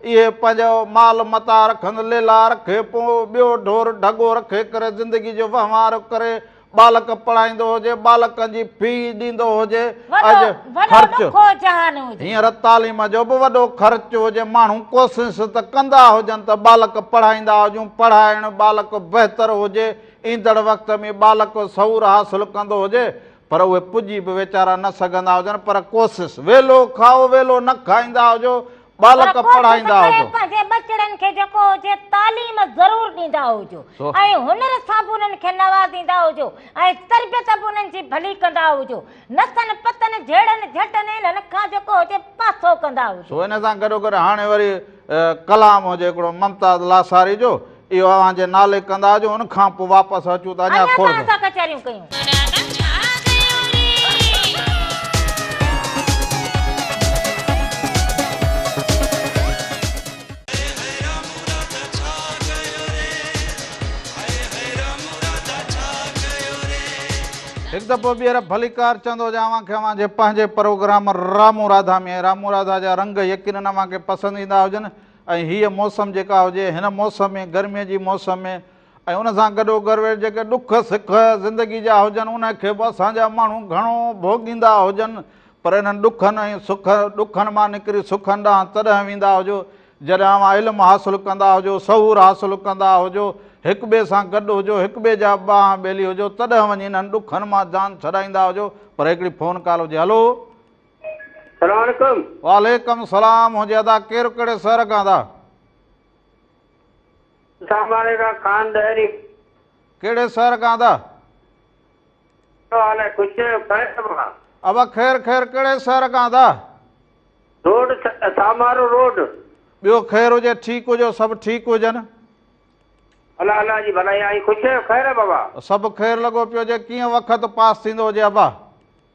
اهي پنهنجو مال متاع رکن، ليلا رکي پو ٻيو ڍور ڍڳو رکي ڪري زندگي جو وهنوار ڪري، ٻالڪ پڙهائيندو هجي، ٻالڪن جي في ڏيندو هجي، اڄ خرچ هينئر تعليم جو به وڏو خرچ هجي، ماڻهو ڪوسس ته ڪندا هجن ته ٻالڪ پڙهائيندا هجون، پڙهائڻ ٻالڪ بهتر هجي، ايندڙ وقت ۾ ٻالڪ سعور حاصل ڪندو هجي، پر اهي پڄي به ويچارا نه سگهندا هجن پر ڪوسس، ويلو کائو ويلو نه کائيندا هجو، ٻالڪ پڙهائيندا هجو. پنهنجي ٻچڙن کي جيڪو هجي تعليم ضرور ڏيندا هجو ۽ هنر سان به انهن کي نوازيندا هجو ۽ تربيت به انهن جي ڀلي ڪندا هجو. نتن پتن جهيڙن جهٽن انهن کان جيڪو هجي پاسو ڪندا هجو. سو ان سان گڏوگڏ هاڻي وري ڪلام هجي هڪڙو ممتاز لاثاري جو. اهو اوهان جي نالي ڪندا جو ان کان پو واپس اچون ته اڃا کور اڃا ته اسان ڪچهريون ڪيون. هڪ دفعو ٻيهر ڀليڪار چوندو جا اوهان کي اوهان جي پنهنجي پروگرام رامون راڌا ۾ رامون راڌا جا رنگ يقينن اوهان کي پسند ايندا هجن ۽ هيء موسم جيڪا هجي، هن موسم ۾ گرميء جي موسم ۾ ۽ ان سان گڏوگڏ وير جيڪي ڏک سک زندگي جا هجن، انهن کي به اسان جا ماڻهو گهڻو ڀوڳيندا هجن، پر انهن ڏکن ۽ سک ڏکن مان نڪري سکن ڏانهن تڏهن ويندا هجو، جڏهن اوهان علم حاصل ڪندا هجو، سهور حاصل ڪندا هجو، هڪٻئي سان گڏ هجو، هڪٻئي جا ٻانهن ٻيلي هجو، تڏهن وڃي انهن ڏکن مان جان ڇڏائيندا هجو، پر هڪڙي فون ڪال هجي، هلو! سلام عليڪم. وعليڪم سلام هونجي ادا ڪير ڪهڙي سهر کان ادا. اسلام آباد کان خان ڏهري. ڪهڙي شهر کان ادا. ڪهڙو حال آهي خوش آهيو خير ابا. ابا خير خير ڪهڙي شهر کان ادا. Road Samaro road. ٻيو خير هجي ٺيڪ هجو سڀ ٺيڪ هجن. الا الا جي ڀلائي آهي خوش آهيو خير ابا. سڀ خير لڳو پيو هجي ڪيئن وقت پاس ٿيندو هجي ابا.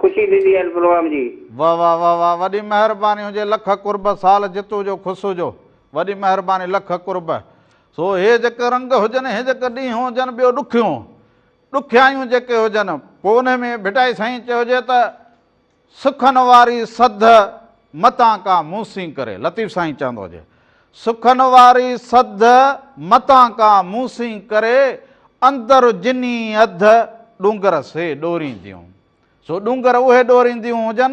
خوشي ٿيندي هن پروگرام جي. واه واه واه واه وڏي مهرباني هجي لک قرب سال جتو جو خوش هجو وڏي مهرباني لک قرب سو هي جيڪي رنگ هجن هي جيڪي ڏينهن هجن ٻيو ڏکيون ڏکيائيون جيڪي هجن پو انهي ۾ ڀٽائي سائين چيو هجي ته سکن واري سڌ متان ڪا مون سين ڪري لطيف سائين چوندو هجي سکن واري سڌ متان ڪان موسين ڪري، اندر جني اڌ ڏونگر سي ڏورينديون. سو ڏونگر اهي ڏورينديون هجن،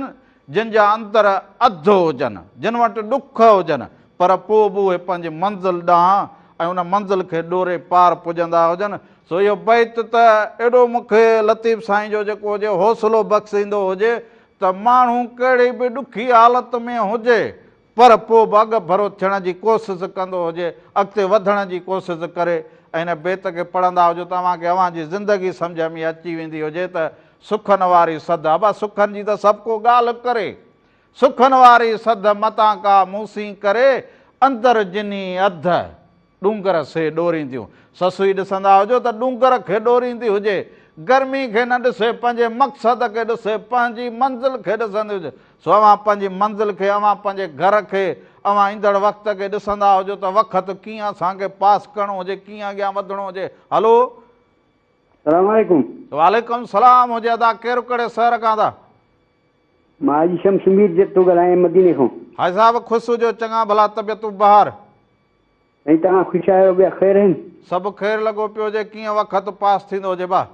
جن جا اندر اڌ هجن، جن وٽ ڏک هجن، پر پوء به اهي پنهنجي منزل ڏانهن ۽ ان منزل کي ڏوري پار پڄندا هجن. سو اهو بيت ته ايڏو مون کي لطيف سائين جو جيڪو هجي حوصلو بخشيندو هجي ته ماڻهو ڪهڙي به ڏکي حالت ۾ هجي پر پوء به اڳڀرو ٿيڻ جي ڪوسس ڪندو هجي، اڳتي وڌڻ جي ڪوسس ڪري ۽ هن بيت کي پڙهندا هجو ته اوهان کي اوهان جي زندگي سمجهه ۾ اچي ويندي هجي ته سخن واري سڌ ابا سخن جي ته سڀ ڪو ڳالهه ڪري سخن واري سڌ متان ڪا مون سين ڪري اندر جني اڌ ڏونگر سي ڏورينديون. سسئي ڏسندا هجو ته ڏونگر کي ڏوريندي هجي. گرمي کي نه ڏسي پنهنجي مقصد کي ڏسي پنهنجي منزل کي ڏسندي هجي. سو اوهان پنهنجي منزل کي اوهان پنهنجي گهر کي اوهان ايندڙ وقت کي ڏسندا هجو ته وقت ڪيئن اسان کي پاس ڪرڻو هجي ڪيئن اڳيان وڌڻو هجي هلو. سلام عليڪم. وعليڪم سلام هجي ادا ڪير ڪهڙي سهر کان ادا. مان حاجي شمس مير جت ٿو ڳالهايان مديني کان. حاجي صاحب خوش هجو چڱا ڀلا طبيعتون بهار. ۽ توهان خوش آهيو ٻيا خير آهن. سڀ خير لڳو پيو هجي ڪيئن وقت پاس ٿيندو هجي باه.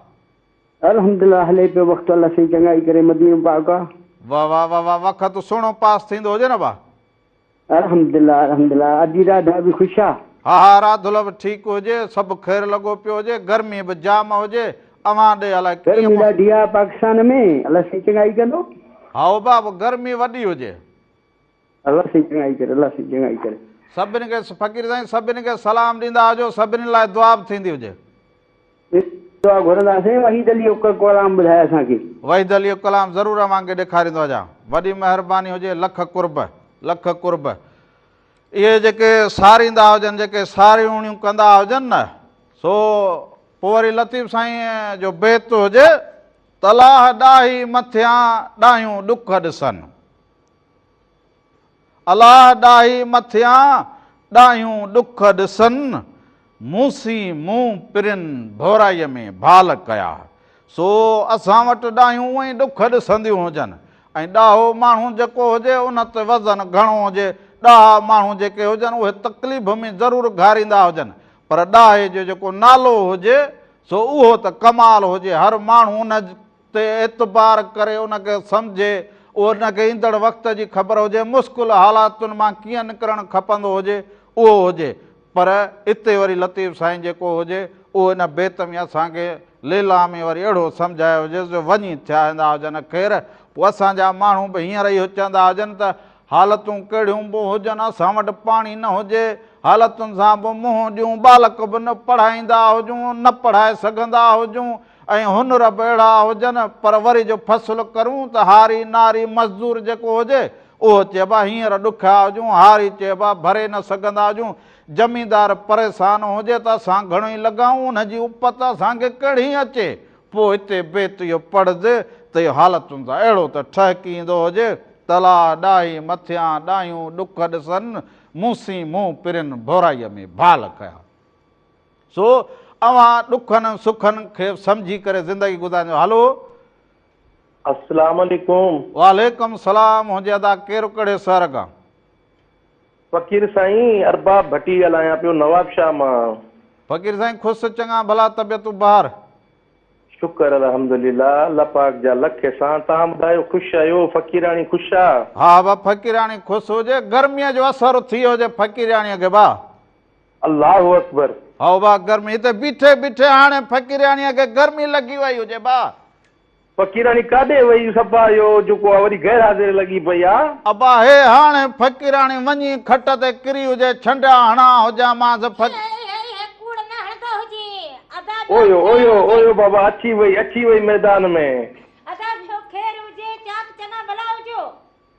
الحمدلله هلي پيو وقت الله سائين چڱائي ڪري مدينو پاڪ آ. واه واه واه واه وقت سهڻو پاس ٿيندو هجي نه باه. الحمدلله الحمدلله ادي راڌا به خوش آ. ها ها راڌل به ٺيڪ هجي سڀ خير لڳو پيو هجي گرمي به جام هجي اوهان ڏي الائي ڪيئن گرمي موسم. ڏاڍي آ پاڪستان ۾ الله سائين چڱائي ڪندو. هائو باه گرمي وڏي هجي. الله سائين چڱائي ڪري الله سائين چڱائي ڪري. سڀني کي فقير سائين سڀني کي سلام ڏيندا ھجو سڀني لاء دعا به ٿيندي ھجي. دعا گهرندا سائين وحيد علي الڪلام ٻڌاء اسان کي. وحيد علي الڪلام ضرور اوهان کي ڏيکاريندو هجان وڏي مهرباني هجي لک قرب لک قرب. اهي جيڪي ساريندا هجن جيڪي ساريوڻيون ڪندا هجن نه سو پوء وري لطيف سائين جو بيت هجي. تلاهه ڏاهي مٿيان ڏاهيون ڏک ڏسن. الاهه ڏاهي مٿيان ڏاهيون ڏک ڏسن، مونسين مون پرين ڀورائيء ۾ ڀال ڪيا. سو اسان وٽ ڏاهيون ائين ڏک ڏسنديون هجن ۽ ڏاهو ماڻهو جيڪو هجي ان تي وزن گهڻو هجي، ڏاها ماڻهو جيڪي هجن اهي تڪليف ۾ ضرور گهاريندا هجن پر ڏاهي جو جيڪو نالو هجي سو اهو ته ڪمال هجي هر ماڻهو ان تي اعتبار ڪري ان کي سمجهي، ان کي ايندڙ وقت جي خبر هجي، مشڪل حالاتن مان ڪيئن نڪرڻ کپندو هجي، اهو هجي. پر اتي وري لطيف سائين جيڪو هجي، اهو ان بيت ۾ اسان کي ليلان ۾ وري اهڙو سمجهايو هجيس جو وڃي ٿيا ايندا هجن. خير، پوء اسان جا ماڻهو به هينئر اهو چوندا هجن ته، حالتون ڪهڙيون به هجن، اسان وٽ پاڻي نه هجي، حالتن سان به منهن ڏيون، ٻالڪ به نه پڙهائيندا هجون، نه پڙهائي سگهندا هجون، ۽ هن رب اهڙا هجن پر وري جو فصل ڪرون ته هاري ناري مزدور جيڪو هجي اهو چئبا هينئر ڏکيا هجون هاري چئبا ڀري نه سگهندا هجون زميندار پريسان هجي ته اسان گهڻو ئي لڳائون ان جي اپت اسان کي ڪهڙي اچي پوء هتي بيت اهو پڙهجي ته اهو حالتن سان اهڙو ته ٺهڪي ايندو هجي تلاء ڏاهي مٿيان ڏاهيون ڏک ڏسن مون سين منهن پرين ڀورائيء ۾ ڀال ڪيا. سو اوهان ڏکن ۽ سکن کي سمجهي ڪري زندگي گذاريندو هلو. اسلام عليڪم. وعليڪم السلام هونجي ادا ڪير ڪهڙي سهر کان. فقير سائين ارباب ڀٽي ڳالهايان پيو نواب شاهه مان. فقير سائين خوس چڱا ڀلا طبيعتون بهار. شڪر الحمدلله الله پاڪ جا لک احسان توهان ٻڌايو خوش آهيو فقيراڻي خوش آ. ها با فقيراڻي خوس هجي گرمي جو اثر ٿيو هجي فقيراڻي کي با. الله اڪبر. هائو ڀاء گرمي تي بيٺي بيٺي هاڻي فقيرياڻيء کي گرمي لڳي وئي هجي ڀاء. فقيراڻي ڪاڏي وئي صفا اهو جيڪو آ وڏي غير حاضر لڳي پئي آ. ابا هي هاڻي فقيراڻي وڃي کٽ تي ڪري هجي ڇنڊيا هڻان هجان مانس فق. هي هي هي هي ڪوڙ نه هڻندو هجي ادا ٻيو اويو خير اويو هجي. اويو بابا اچي وئي اچي وئي ميدان ۾. ادا ٻيو خير هجي چاڪ چڱا ڀلا هجو.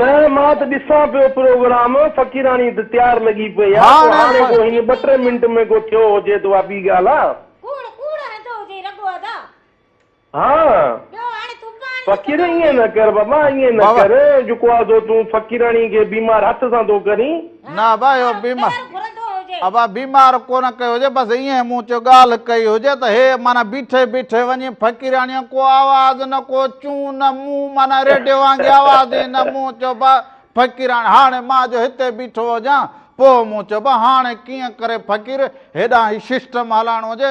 نه مان ته ڏسان پيو پروگرام فقيراڻي ته تيار لڳي پئي آ ڪو هاڻي ڪو هن ٻه ٽي منٽ ۾ ڪو ٿيو هجي ته اها ٻي ڳالهه آ. ڪوڙ ڪوڙ هنڌو هجي رڳو ادا. ها ٻيو هاڻي تون پاڻ ئي فقير ڪمائي. ائين نه ڪر بابا ائين نه ڪر جو ڪو آ سو تون فقيراڻي کي بيمار هٿ سان ٿو ڪرين. نه ابا اهو بيمار ابا بيمار ڪونه ڪيو هجي بس ائين مون چيو ڳالهه ڪئي هجي ته هي مانا بيٺي بيٺي وڃي فقيراڻي ڪو آواز نه ڪو چون نه مون مانا ريڊيو وانگي آواز ئي نه مون چيو با فقيراڻي هاڻي مان جو هتي بيٺو هجان پوء مون چيو با هاڻي ڪيئن ڪري فقير هيڏانهن هي سسٽم هلائڻو هجي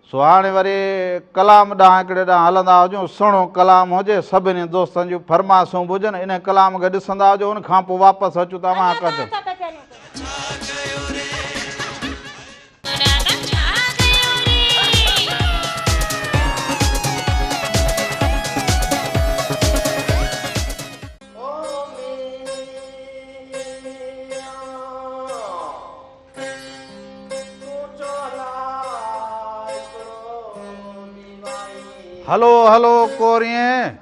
سو هاڻي وري ڪلام ڏانهن هڪڙي ڏانهن هلندا هجون، سهڻو ڪلام هجي، سڀني دوستن جون فرمائشون به هجن، انهي ڪلام کي ڏسندا هجون، ان کان پوء واپس اچون ته اوهان ڪجهه. هلو هلو ڪوريئين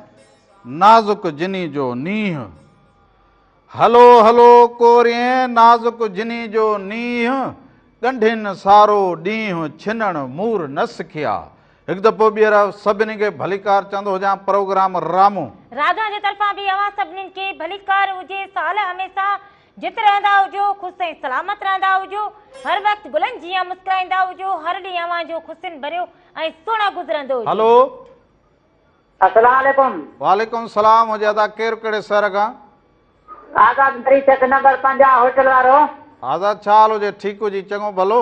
نازڪ جني جو نينهن هلو هلو ڪوريئين نازڪ جني جو نينهن ڳنڍين سارو ڏينهن ڇنڻ مور نه سکيا هڪ دفعو ٻيهر سڀني کي ڀليڪار چوندو هجان پروگرام رامو راجا جي طرفان به اوهان سڀني کي ڀليڪار هجي سال هميسا جت رهندا هجو، خوش ۽ سلامت رهندا هجو، هر وقت گلن جيان مسڪرائيندا هجو، هر ڏينهن اوهان جو خوشين ڀريو ۽ سهڻو گذرندو هجي. هلو. السلام عليڪم. وعليڪم السلام هجي ادا ڪير ڪهڙي شهر کان. آزاد مري چڪ نمبر پنجاهه هوٽل وارو. آزاد ڇا حال هجي ٺيڪ هجي چڱو ڀلو.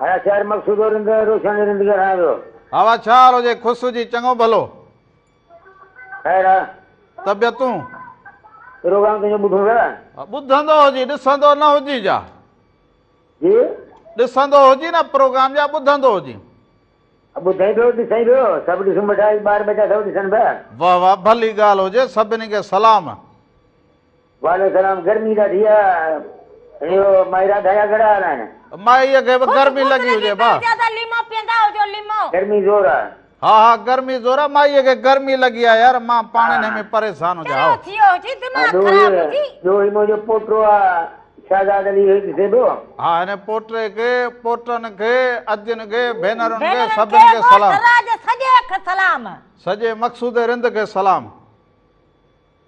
هيا شاعر مقصود و رند روشن رند ڪي رهان ويو. هوا ڇاهر هجي خسرو جي چڱو ڀلو. خير آ. طبيعتون. پروگرام تنهنجو ٻڌون ٿا. ٻڌندو هجي ڏسندو نه هجي جا. جي. ڏسندو هجي نه پروگرام جا ٻڌندو هجي. ٻڌين پيو ڏسين پيو سڀ ڏسون ٻيٺا ٻار ٻچا سڀ ڏسن پيا. واهه واهه ڀلي ڳالهه هجي سڀني کي سلام. وعليڪم سلام گرمي ڏاڍي آ ايو مائرا ڌايا گھڙا ھلائڻ. مائي کي به گرمي لڳي هجي ڀا. گرمي زور آ. ها ها گرمي زور آ مائي کي گرمي لڳي آ يار مان پاڻ انهي ۾ پريسان هجان هائو. ها ڏو هي ڏو هي منهنجو پوٽو آ شهزاد علي هي ڏسي ڏو. ها هن پوٽي کي پوٽن کي اجين کي ڀينرن کي سڀن کي سلام. سڄي مقصود رند کي سلام.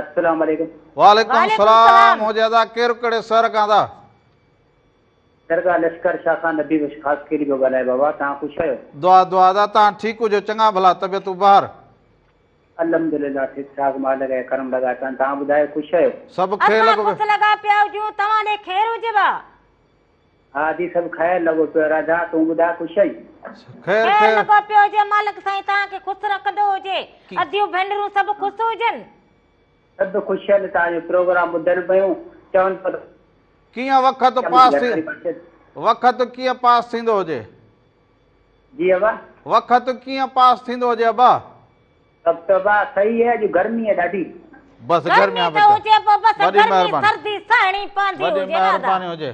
السلام عليڪم. وعليڪم السلام هو جيادا ڪير ڪهڙي سهر کان ٿا. درگاهه لشڪر شاهه کان نبي بخش خاصخيلي پيو ڳالهايان بابا توهان خوش آهيو. دعا دعا ادا توهان ٺيڪ هجو چڱا ڀلا طبيعتون بهر. الحمدلله ٺيڪ ٺاڪ مالڪ جا ڪرم لڳا پيا آهن توهان ٻڌايو خوش آهيو. سڀ کي لڳو پيو. اسان خوش لڳا پيا هجون توهان ڏي خير هجيو آ. ها جي سڀ خير لڳو پيو راڌا تون ٻڌاء خوش آهين. خير لڳو پيو هجي مالڪ سائين توهان کي خوس رکندو هجي اديون ڀينرون سڀ خوس هجن. سڀ خوش آهن توهان جو پروگرام ٻڌن پيون چون پيون ته. ڪيئن وقت پاس ٿي وقت ڪيئن پاس ٿيندو هجي. جي ابا. وقت ڪيئن پاس ٿيندو هجي ابا. تبا سھي ھي اڄ گرمي ھي ڏاڍي. بس گرمي ته ھجي پو بس گرمي سردي سھڻي پوندي ھجي وڏي مھرباني ھجي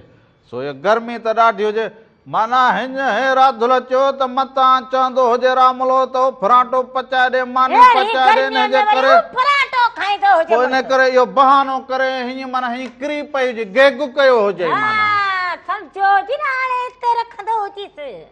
سو اھي گرمي ته ڏاڍي ھجي معنيٰ ھن ھي راڌل چيو ته متان چوندو ھجي راملو ته اھو پھرانٽو پچائي ڏي ماني پچائي ڏي انھي جي ڪري پو انھي ڪري اھو بھانو ڪري ھيئن معنيٰ ھيئن ڪري پئي ھجي گيگ ڪيو ھجئي معنيٰ.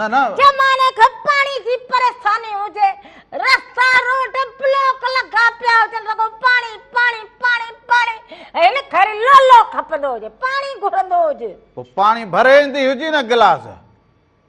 نه نه جي ماڻي کي پاڻي جي پريشاني هجي رستا روڊ بلاڪ لڳا پيا هجن رڳو پاڻي پاڻي پاڻي پاڻي هن کر لولو کپندو هجي پاڻي گهرندو هجي پو پاڻي ڀري ايندي هجي نه گلاس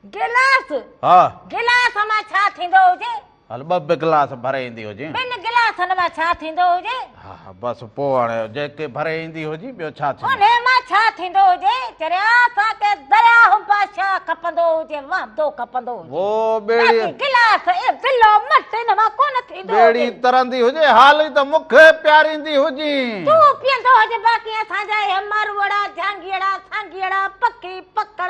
گلاس ها گلاس مان ڇا ٿيندو هجي هل ٻه به گلاس ڀري ايندي هجين. ٻن گلاسن مان ڇا ٿيندو هجي؟ ها ها بس پوء هاڻي جيڪي ڀري ايندي هجين ٻيو ڇا ٿيندو؟ انهي مان ڇا ٿيندو هجي؟ چريا اسان کي درياهه بادشاهه کپندو هجي وهندو کپندو هجي. وو ٻيڙي. باقي گلاس اي بلو مٽ ان مان ڪونه ٿيندو هجي. ٻيڙي ترندي هجي هال ئي ته مون کي پياريندي هجين. تون پيئندو هجي باقي اسان جا اهي ماروئڙا، جهانگيئڙا، سانگيئڙا، پکي، پکڻ،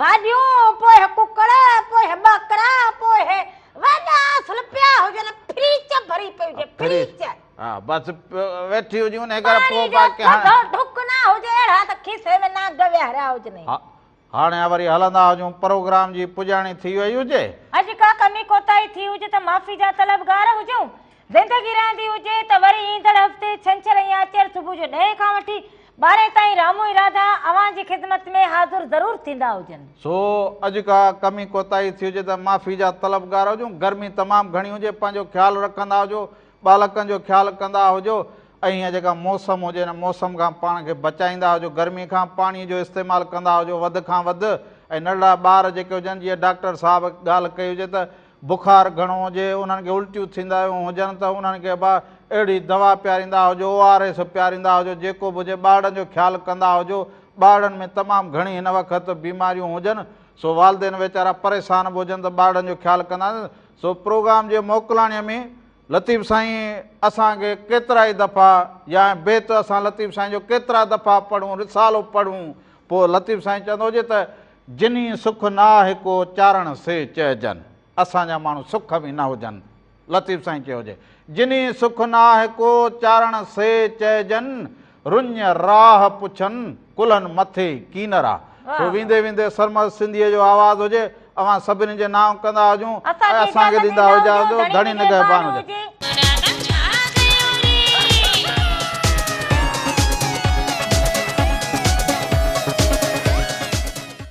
ڀاڄيون، پوء هي ڪڪڙ، پوء هي ٻڪرا، پوء هي وڏا اصل پيا هجن، ڦريچ ڀري پئي هجي، ڦريچ. ها بس ويٺي هجي ان ڪري پاڻي جو ٿڌو ڍڪ نه هجي اهڙا ته کيسي ۾ نانگ ويهاريا هجنئي. هاڻي وري هلندا هجون پروگرام جي پڄاڻي ٿي وئي هجي. اڄ ڪا ڪمي ڪوتاهي ٿي هجي ته معافي جا طلبگار هجون. زندگي رهندي هجي ته وري ايندڙ هفتي ڇنڇر ۽ آچر صبح جو ڏهين کان وٺي ٻارهين تائين رامو ۽ راڌا اوهان جي خدمت ۾ حاضر ضرور ٿيندا هجن. سو اڄ ڪا ڪمي ڪوتاهي ٿي هجي ته معافي جا طلبگار هجون. گرمي تمام گهڻي هجي پنهنجو خيال رکندا هجو، ٻالڪن جو خيال ڪندا هجو ۽ هيء جيڪا موسم هجي ان موسم کان پاڻ کي بچائيندا هجو. گرمي کان پاڻي جو استعمال ڪندا هجو وڌ کان وڌ ۽ ننڍڙا ٻار جيڪي هجن جيئن ڊاڪٽر صاحب ڳالهه ڪئي هجي ته بخار گهڻو هجي، انهن کي الٽيون ٿيندايون هجن ته انهن کي به اهڙي دوا پياريندا هجو، او آر ايس پياريندا هجو، جيڪو به هجي ٻارڙن جو خيال ڪندا هجو، ٻارڙن ۾ تمام گهڻي هن وقت بيماريون هجن سو والدين ويچارا پريشان به هجن ته ٻارڙن جو خيال ڪندا سو پروگرام جي موڪلاڻي ۾ لطيف سائين اسان کي ڪيترائي دفعا يا بيت اسان لطيف سائين جو ڪيترا دفعا پڙهون رسالو پڙهون پوء لطيف سائين چوندو هجي ته جنھي سک نه آھي ڪو چارڻ سي چئجن. اسان جا ماڻھو سک ۾ نه ھجن. لطيف سائين چيو جي. جنھي سک نه آھي ڪو چارڻ سي چئجن. رڃ راھ پڇن ڪلھن مٿي ڪينر آ. سو ويندي ويندي سرمست سنڌيء جو آواز ھجي. اوھان سڀني جي نانء ڪندا ھجون ۽ اسان کي ڏيندا ھجا ھجو. ڌڻي نگهبان ھجي.